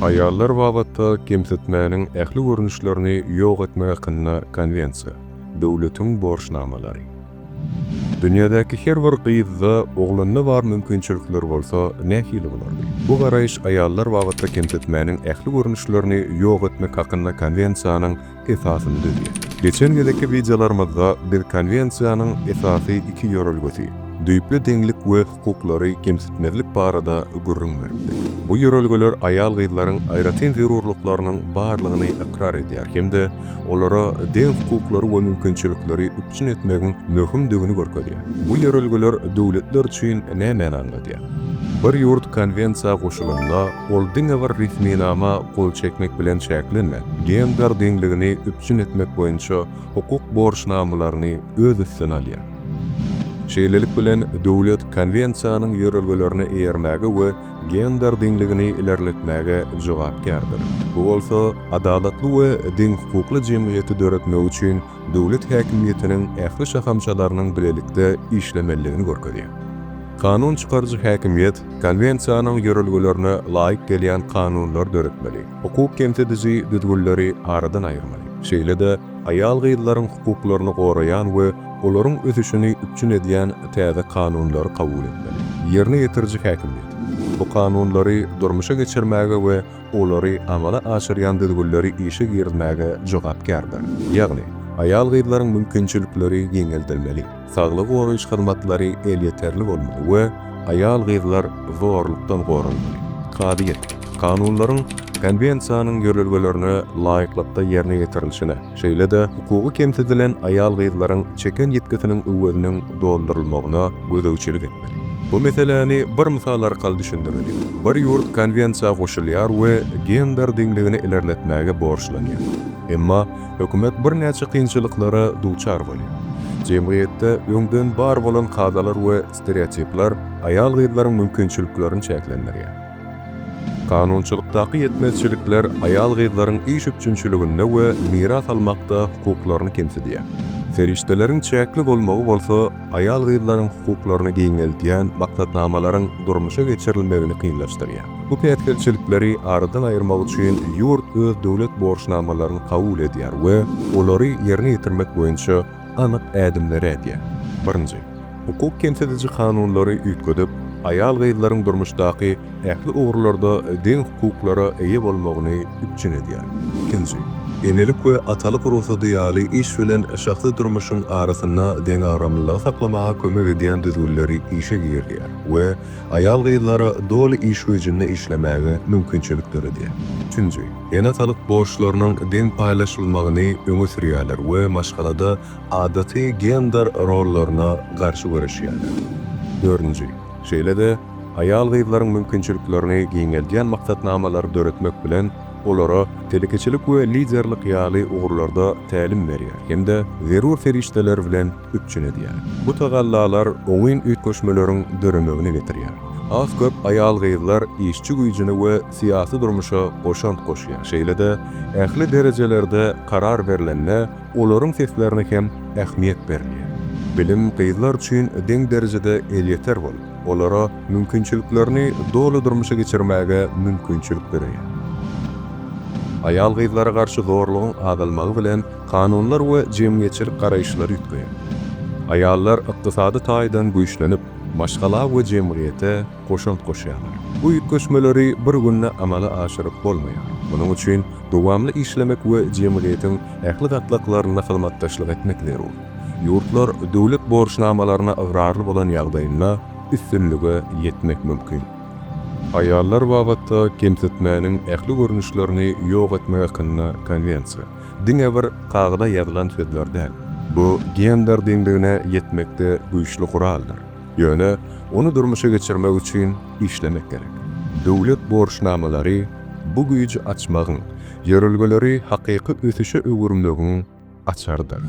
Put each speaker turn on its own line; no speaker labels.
Aýallar babatda kemsitmäniň ähli görnüşlerini ýok etmek hakynda Konwensiýa, döwletiň borçnamalary. Dünýädäki her bir gyzda, oglanda bar mümkinçilikler bolsa nähili bolardy? Bu garaýyş aýallar babatda kemsitmäniň ähli görnüşlerini ýok etmek hakynda Konwensiýanyň esasyny düzýär. Geçen gezekki wideolarymyzda biz Konwensiýanyň esasy iki ýörelgesi, düýpli deňlik we hukuklary kemsitmezlik barada gürrüň beripdik. Bu ýörelgeler aýal-gyzlaryň aýratyn zerurlyklarynyň barlygyny ykrar edýär hem-de olara deň hukuklary we mümkinçilikleri üpjün etmegiň möhümdigini görkezýär. Bu ýörelgeler döwletler üçin nämäni aňladýar? Bir ýurt Konwensiýa goşulanda, Ol diňe bir resminama gol çekmek bilen çäklenmän, gender deňligini üpjün etmek boýunça hukuk borçnamalaryny öz üstüne alýar. Şeýlelik bilen, döwlet Konwensiýanyň ýörelgelerine eýermäge we gender deňligini ilerletmäge jogapkärdir. Bu bolsa adalatly we deňhukukly jemgyýeti döretmek üçin döwlet häkimiýetiniň ähli şahamçalarynyň bilelikde işlemelidigini görkezýär. Kanun çykaryjy häkimiýet Konwensiýanyň ýörelgelerine laýyk gelýän kanunlary döretmeli, hukuk kemsidiji düzgünleri aradan aýyrmaly, şeýle-de aýal-gyzlaryň hukuklaryny goraýan we olaryň ösüşini üpjün edýän täze kanunlary kabul etmeli. Ýerine ýetiriji häkimiýet bu kanunlary durmuşa geçirmäge we olary amala aşyrýan düzgünleri işe girizmäge jogapkärdir. Ýagny, aýal-gyzlaryň mümkinçilikleri giňeldilmeli, saglygy goraýyş hyzmatlary elýeterli bolmaly we aýal-gyzlar zorlukdan goralmaly. Kazyýet, kanunlaryň Konwensiýanyň ýörelgelerine laýyklykda ýerine ýetirilişine, şeýle-de hukugy kemsidilen aýal-gyzlaryň çeken ýitgisiniň öweziniň doldurylmagyna gözegçilik etmeli. Bu meseläni bir mysal arkaly düşündireli. Bir ýurt konwensiýa goşulýar we gender deňligini ilerletmäge borçlanýar. Emma hökümet birnäçe kynçylyklara duçar bolýar. Jemgyýetde öňden bar bolan kadalar we stereotipler aýal-gyzlaryň mümkinçiliklerini çäklendirýär. Kanunçylykdaky ýetmezçilikler aýal-gyzlaryň iş üpjünçiliginde we miras almakda hukuklaryny kemsidýär. Serişdeleriň çäkli bolmagy bolsa aýal-gyzlaryň hukuklaryny giňeldýän maksatnamalaryň durmuşa geçirilmegini kynlaşdyrýar. Bu päsgelçilikleri aradan aýyrmak üçin ýurt öz döwlet borçnamalaryny kabul edýär we olary ýerine ýetirmek boýunça anyk ädimleri ädýär. Birinji, hukuk kemsidiji kanunlary üýtgedip, aýal-gyzlaryň durmuşdaky ähli ugurlarda deň hukuklara eýe bolmagyny üpjün edýär. Ikinji, enelik we atalyk rugsady ýaly iş bilen şahsy durmuşyň arasynda deňagramlylygy saklamaga kömek edýän düzgünleri işe girizýär we aýal-gyzlara doly iş güýjünde işlemäge mümkinçilik döredýär. Üçünji, Ene-atalyk borçlarynyň deň paýlaşylmagyny öňe sürýärler we maşgalada adaty gender rollaryna garşy göreşýärler. Dördünji. Şeýle-de, aýal-gyzlaryň mümkinçiliklerini giňeldýän maksatnamalary döretmek bilen, olara telekeçilik we liderlik ýaly ugurlarda tälim berýär hem-de zerur serişdeler bilen üpjün edýär. Bu tagallalar oňyn üýtgeşmeleriň döremegine getirýär. Az-köp aýal-gyzlar işçi güýjüni we syýasy durmuşa goşant goşýar, şeýle-de ähli derejelerde karar berlende olaryň seslerine hem ähmiýet berilýär. Bilim gyzlar üçin deň derejede elýeter bolup, olara mümkinçiliklerini doly durmuşa geçirmäge mümkinçilik döreýär. Aýal-gyzlara garşy zorlugyň azalmagy bilen kanunlar we jemgyýetçilik garaýyşlary üýtgeýär. Aýallar ykdysady taýdan güýçlenip, maşgala we jemgyýete goşant goşýarlar. Bu üýtgeşmeleri bir günde amala aşyryp bolmaýar. Munuň üçin dowamly işlemek we jemgyýetiň ähli gatlaklarynda hyzmatdaşlyk etmek zerur. Ýurtlar döwlet borçnamalaryna ygrarly bolan ýagdaýynda üstünlige ýetmek mümkin. Aýallar babatda kemsitmäniň ähli görnüşlerini ýok etmek hakynda Konwensiýa, diňe bir kagyza ýazylan sözler däl, bu gender deňligine ýetmekde güýçli guraldyr. Ýöne ony durmuşa geçirmek üçin işlemek gerek. Döwlet borçnamalary bu güýji açmagyň, ýörelgeleri hakyky ösüşe öwürmegiň açarydyr.